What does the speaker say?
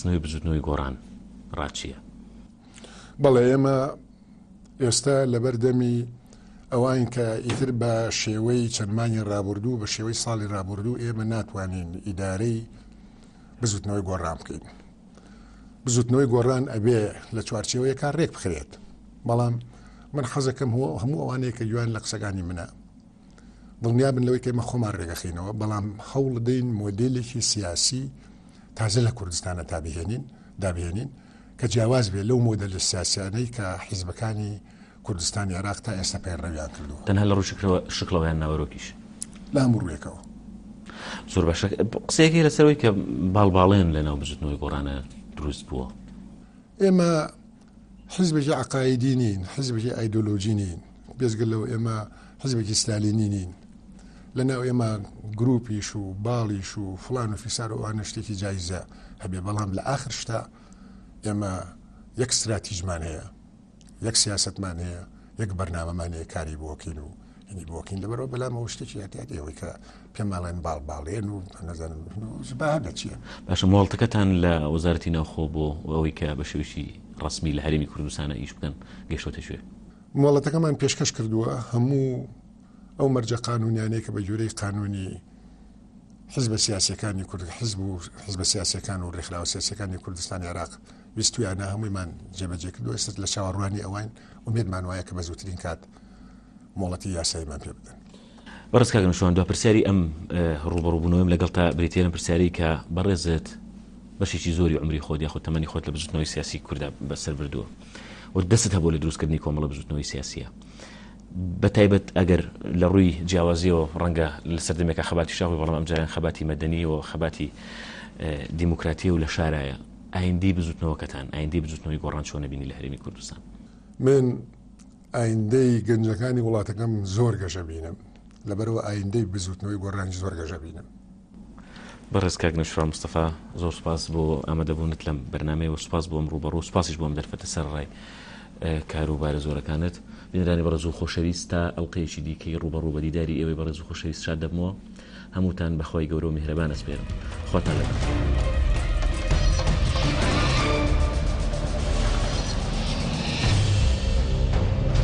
نوێی بزوتنەوەی گۆڕان ڕاچیە؟ بەڵێ ئێمە ئێستا لەبەر دەمی ئەوان کە ئیتر بە شێوەی چەند مانگی ڕابردوو بە شێوەی ساڵی ڕابردوو ئێمە ناتوانین ئیدارەی بزوتنەوەی گۆڕان بکەین بزوتنەوەی گۆڕان ئەبێ لە چوارچێوەیەکان ڕێک بخرێت بەڵام من حەزەکەم هەموو ئەوانەیە کە جوان لە قسەکانی منە دڵنیابن لەوەی کە ئێمە خۆمان ڕێگەخینەوە بەڵام هەوڵدەین مۆدلێکی سیاسی تازە لە کوردستانە تا بهێنین دابهێنین کە جیاواز بێت لەو مۆدل لە سیاسیانەی کە حیزبەکانی کوردستانی عراق تا ئێستا پەیڕەویان کردو تەنها لە ڕوشکرەوە شکڵەوەیان ناوەرۆکیش لە هەموو ڕوێکەوە زۆر باشە قسەیەکی لەسەرەوەی کە باڵباڵێن لە ناو بزوتنەوەی گۆڕانە دروست بووە ئێمە حیزبێکی عەقائیدی نین، حیزبێکی ئایدۆلۆژی نین، بێجگە لەوە ئێمە حیزبێکی ستالینی نین، لەناو ئێمە گروپیش و باڵیش و فلان و فیسار و ئەوانە شتێکی جایزە هەبێ بەڵام لە ئاخر شتا ئێمە یەک ستراتیژمان هەیە یەک سیاستمان هەیە یەک بەرنامەمان هەیە کاری بۆکەین و یانی بۆکین لەبەرەوە بەلام ئەو شتێکی یاتیاتی ئەوەی کە پێماڵێن باڵ باڵێن و نەزانم بەهدە چییە باشە مۆڵتەکەتان لە وەزارەتی ناوخۆ بۆ ئەوەی کە بە شێوشی ڕسمی لە هەرمی کوردستانە ئیش بکەن گەشتۆتە شوێ مۆڵەتەکەمان پێشکەش کردووە هەموو ئەو مەرجە قانونیانەیە کە بە جۆرەی قانونی حزبە سیاسەکانی کورد حزب و حزبە سیاسەکان و ڕێکخراوە سیاسەکانی کوردستانی عراق ویستویانە هەموویمان جێبەجێ کردو ئێستا لە چاوەڕوانی ئەوان ومێدمان وایە کە بە زووترین کات مۆڵەتی یاساییمان پێ بدەن. بەڕێز کاک نەوشیروان دوا پرسیاری ئەم ڕووبەڕووبوونەوەیم لەگەڵتا بریتییە لەم پرسیارەی کە بەڕێزت بەشێکی زۆری عمری خۆت یاخود تەمەنی خۆت لە بزوتنەوەی سیاسی کووردا بەسەر بردووە و دەست هەبوو لە دروستکردنی کۆمەڵە بزوتنەوەی سیاسیە بە تایبەت ئەگەر لە ڕووی جیاوازیەوە ڕەنگە لە سەردەمێکە خەباتی شاخی بەڵام ئەمجاران خەباتی مەدەنی و خەباتی دیموکراتی و لە شارایە ئایندی بزوتنەوەکەتان ئایندی بزوتنەوەی گۆڕان چۆنە بینی لە هەرێمی کوردستان من ئایندەی گەنجەکانی وڵاتەکەم زۆر گەشە بینم لەبەرەوە ئایندەی بزوتنەوەی گۆڕانیش زۆر گەشە بینم. بەڕێز کاک نەوشیروان مستەفا زۆر سوپاس بۆ ئامەدەبوونت لەم بەرنامەیە و سوپاس بۆ ئەم ڕووبەڕوو و سوپاسیش بۆ ئەم دەرفەتە سەرەڕای کارو بارە زۆرەکانت بینەرانی بەڕێزو خۆشەویست تا ئەڵقەیەکی دیکەی ڕووبەڕوو بە دیداری ئێوەی بەڕێزو خۆشەویست شاد دەبمەوە هەمووتان بە خوای گەورە و میهرەبان ئەسپێرم. خواتان لەگەڵ.